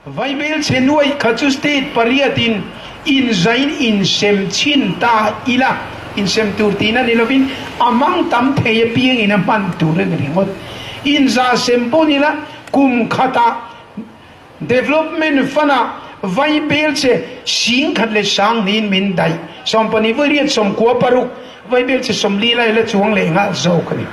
Vaibel Chenuai kha chu state pariatin inzain insem chin ta ila, insem tur tiin a ni lovin a mang tam thei apiangin a hman tur a ni ringawt. Inzah sem pawh nila kum khatah Development Fund ah vai bel che hring khat leh sang niin min daih. Sawm pahnih vawiria sawm kua paruk vai bel che sawm lila ila chuang leh nghal zawk a ni.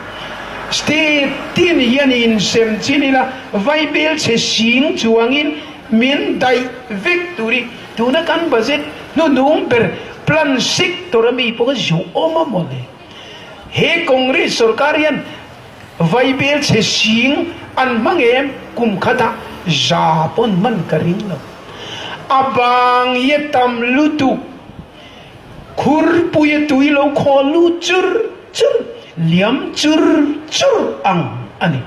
State tih ni hian i insem chin ila vai bel che hring chuangin min daih vek tur hi tuna kan budget hnunung ber plan sector ami pawh ka zhuh awm a maw le. He Congress sawrkar hian. Vaibel chhe hring an hmang em? Kum khatah za pawn man ka ring lo. A bang i a tam lutuk. Khurpuia tui lo khawl lu chur chur, liam chur chur ang a ni.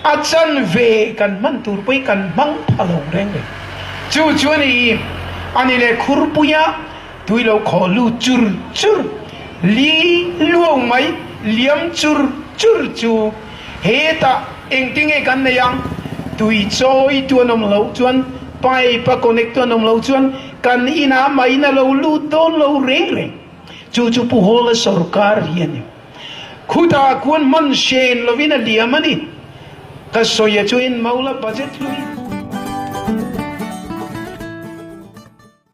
A chan ve kan hman tur pawhin kan hmang pha lo reng reng. Chu chuan i, a ni le khurpuia. tui lo khawh lu chur chur, li luau mai liam chur chur chu hetah engti nge kan nei ang, tui chawi tu an awm lo chuan pipe a connect tu an awm lo chuan kan inah main a lo lut dawn lo reng reng, chu chu pu Hawla sorkar hi a ni, khuta kuan hman hren lovin a liam a ni, ka sawi a chu en mo la budget hlui.